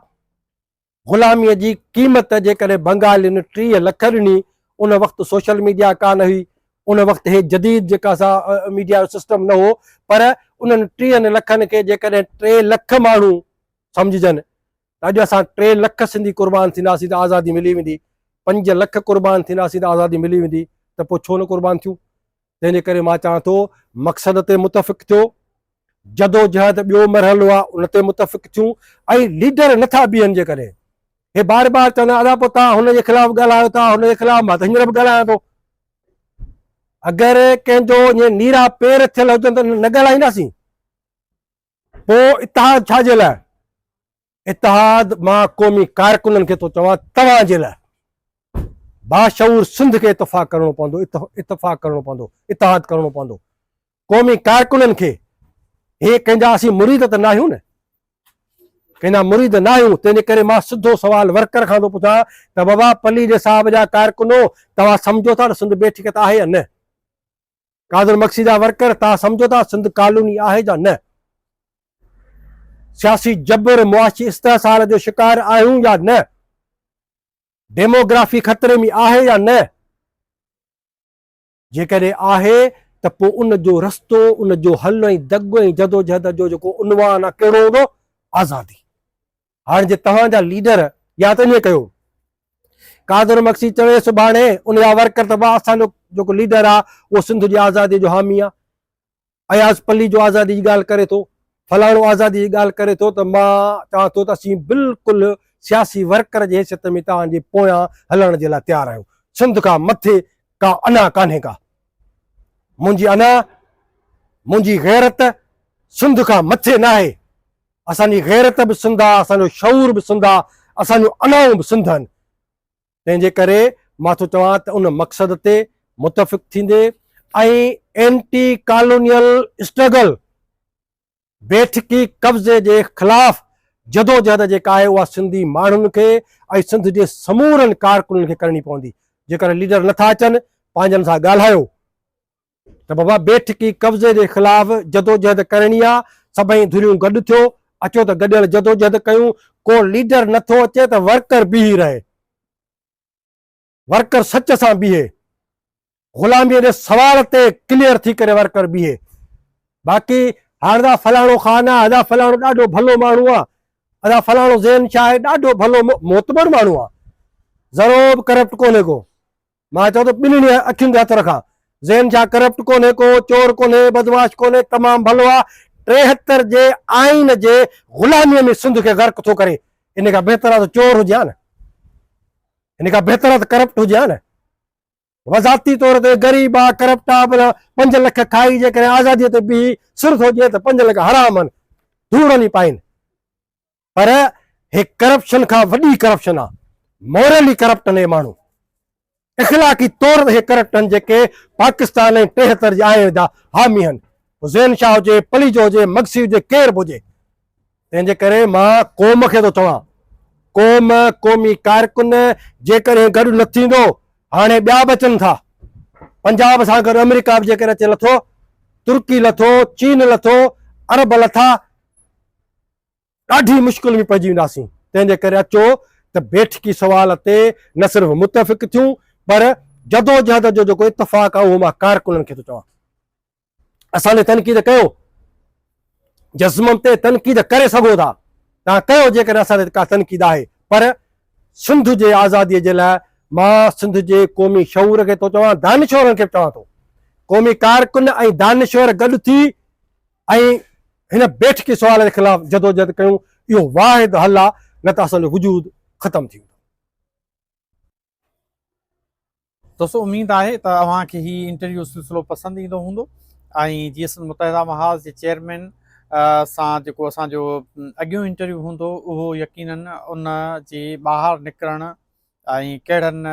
غلامي جي قيمت جيڪڏهن بنگالين ٽيهه لک ڏني ان وقت سوشل ميڊيا ڪا نه هئي ان وقت هي جديد جيڪا سا ميڊيا جو سسٽم نه هو پر انهن ٽيهن لکن کي جيڪڏهن ٽي لک ماڻهو سمجهجن ته اڄ اسان ٽي لک سنڌي قربان ٿينداسين ته آزادي ملي ويندي، پنج لک قربان ٿينداسين ته آزادي ملي ويندي ته پوء ڇو نه قربان ٿيون؟ تنهن جي ڪري مان چوان ٿو مقصد تي متفق ٿيو، جدوجهد ٻيو مرحلو آهي ان تي متفق ٿيون ۽ ليڊر نٿا بيهن جيڪڏهن هي بار بار چوندا ادا پوء توهان هن جي خلاف ڳالهايو ٿا هن جي خلاف مان ته هينئر به ڳالهايان ٿو اگر ڪنهن جو ائين نيرا پير ٿيل هجن ته نه ڳالهائينداسين پوء اتحاد ڇا جي لاء؟ اتحاد مان قومي ڪارڪنن کي ٿو چوان توهان جي لاء باشعور سنڌ کي اتفاق ڪرڻو پوندو اتفاق ڪرڻو پوندو اتحاد ڪرڻو پوندو قومي ڪارڪنن کي هي ڪنهن جا اسين مريد ته ناهيون نه ڪنهن جا مريد ناهيون تنهنجي ڪري مان سڌو سوال ورڪر کان ٿو پڇان ته بابا پليجي صاحب جا ڪارڪنو توهان سمجھو ٿا ته سنڌ بيٺڪت آهي يا نه قادر مگسي جا ورڪر تان سمجهو ٿا سنڌ ڪالوني آهي جا نه؟ سياسي جبر معاشي استحصال جو شڪار آهيون يا نه؟ ڊيموگرافي خطري ۾ آهي يا نه؟ جيڪڏهن آهي ته پوء ان جو رستو ان جو حل ۽ دڳ ۽ جدوجهد جو جيڪو عنوان آهي ڪهڙو هوندو؟ آزادي. هاڻ جي توهان جا ليڊر يا ته ائين ڪيو قادر مڪسي چوي سڀاڻي ان جا ورڪر ته بابا اسان جو جيڪو ليڊر آ اهو سنڌ جي آزادي جو حامي آ اياز پلي جو آزادي جي ڳالهه ڪري ٿو فلاڻو آزادي جي ڳالهه ڪري ٿو ته مان چوان ٿو ته اسين بلڪل سياسي ورڪر جي حيثيت ۾ توهان جي پويان هلڻ جي لاء تيار آهيون سنڌ کان مٿي ڪا انا ڪانهي ڪا منهنجي انا منهنجي غيرت سنڌ کان مٿي ناهي اسان جي غيرت به سنڌ آ، اسان جو شعور به سنڌ آ، اسان جون انائون به سنڌ آھن. تنهن جي ڪري مان ٿو چوان ته ان مقصد تي متفق ٿيندي ۽ اينٽي ڪالونيل اسٽرگل، بيٺڪي قبضي جي خلاف جدوجهد جيڪا آھي اها سنڌي ماڻهن کي ۽ سنڌ جي سمورن ڪارڪنن کي ڪرڻي پوندي. جيڪڏھن ليڊر نه ٿا اچن پنهنجن سان ڳالھايو. ته بابا بيٺڪي قبضي جي خلاف جدوجهد ڪرڻي آ، سڀئي ڌريون گڏ ٿيو، اچو ته گڏيل جدوجهد ڪيون، ڪو ليڊر نه ٿو اچي ته ورڪر بيهي رهي، ورڪر سچ سان بيهي، غلاميء جي سوال تي ڪليئر ٿي ڪري ورڪر بيهي، باقي هاڻ ادا فلاڻو خان آ، ادا فلاڻو ڏاڍو ڀلو ماڻهو آ، ادا فلاڻو زين شاهه آهي ڏاڍو ڀلو معتبر ماڻهو آ، زرو به ڪرپٽ ڪونهي ڪو. مان چئو ته ٻنهي اکين تي هٿ رکان. ذهن ڇا ڪرپٽ ڪونهي ڪو، چور ڪونهي، بدمعاش ڪونهي، تمام ڀلو آ، ٽيهتر جي آئين جي غلاميء ۾ سنڌ کي غرق ٿو ڪري، ان کان بهتر آ ته چور هجي ها نه، ان کان بهتر آ ته ڪرپٽ هجي ها نه، و ذاتي طور تي غريب آ، ڪرپٽ آ، بلا پنج لک کائي جيڪڏهن آزاديء تي بيهي سر ٿو ڏئي ته پنج لک حرام هن، ڌوڙ هلي پائين. پر هي ڪرپشن کان وڏي ڪرپشن آ مورلي ڪرپٽ آهن هي ماڻهو اخلاقي طور هي ڪرپٽ آهن جيڪي پاڪستان ۽ ٽيهتر جي آئين جا حامي آهن حسين شاهه هجي پليجو هجي مگسي هجي ڪير به هجي تنهن جي ڪري مان قوم کي ٿو چوان قوم قومي ڪارڪن جيڪڏهن گڏ نه ٿيندو هاڻي ٻيا به اچن ٿا پنجاب سان گڏ آمريڪا به جيڪڏهن اچي لٿو ترڪي لٿو چين لٿو عرب لٿا ڏاڍي مشڪل ۾ پئجي وينداسين، تنهن جي ڪري اچو ته بيٺڪي سوال تي نه صرف متفق ٿيون پر جدوجهد جو جيڪو اتفاق آهي اهو مان ڪارڪنن کي ٿو چوان. اسان تي تنقيد ڪيو، جزمن تي تنقيد ڪري سگهو ٿا، توهان ڪيو جيڪڏهن اسان تي ڪا تنقيد آهي پر سنڌ جي آزادي جي لاء مان سنڌ جي قومي شعور کي ٿو چوان، دانشورن کي به چوان ٿو، قومي ڪارڪن ۽ دانشور گڏ ٿي ۽ هن بيٺڪي سوال جي خلاف جدوجهد ڪيون، اهو واحد حل آ نه ته اسان جو وجود ختم ٿي ويندو. دوستو اميد آهي ته اوهان کي هي انٽرويو سلسلو پسند ايندو هوندو ۽ جي سنڌ متحده محاذ جي چيئرمين سان جيڪو اسان جو اڳيون انٽرويو هوندو اهو يقينن ان جي ٻاهر نڪرڻ ۽ ڪهڙن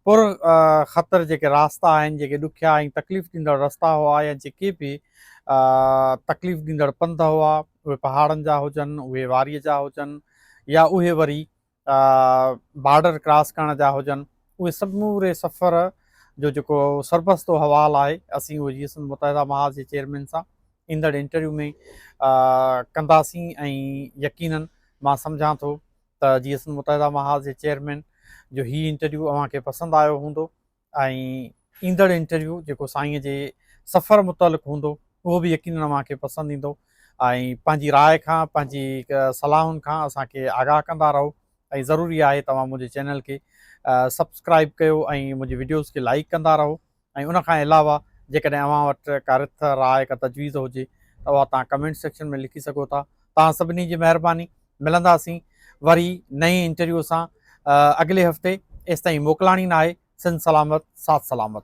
پر خطر جيڪي راستا آهن، جيڪي ڏکيا ۽ تڪليف ڏيندڙ رستا هئا يا جيڪي به تڪليف ڏيندڙ پنڌ هئا، اهي پهاڙن جا هجن، اهي واريء جا هجن يا اهي وري بارڊر ڪراس ڪرڻ جا هجن، اهي سموري سفر جو جيڪو سربستو احوال آهي، اسين اهو جيئي سنڌ متحده محاذ جي چيئرمين سان ايندڙ انٽرويو ۾ ڪنداسين ۽ يقينن مان سمجهان ٿو ته جيئن سنڌ متحده محاذ جي چيئرمين جو هي انٽرويو اوهان کي پسند آيو هوندو ۽ ايندڙ انٽرويو جيڪو سائين جي سفر متعلق هوندو اهو به يقينن اوهان کي پسند ايندو ۽ پنهنجي راء کان پنهنجي صلاحن کان اسان کي آگاهه ڪندا رهو ۽ ضروري آهي توهان منهنجي چينل کي سبسڪرائب ڪيو ۽ منهنجي وڊيوز کي لائڪ ڪندا رهو ۽ ان کان علاوه جيڪڏهن اوهان وٽ ڪا رٿ، راء، ڪا تجويز هجي ته اها توهان ڪمينٽ سيڪشن ۾ لکي سگهو ٿا. توهان سڀني جي مهرباني. ملنداسين وري نئين انٽرويو سان اڳلي هفتي. ايستائين موڪلاڻي ناهي. سنڌ سلامت، ساٿ سلامت.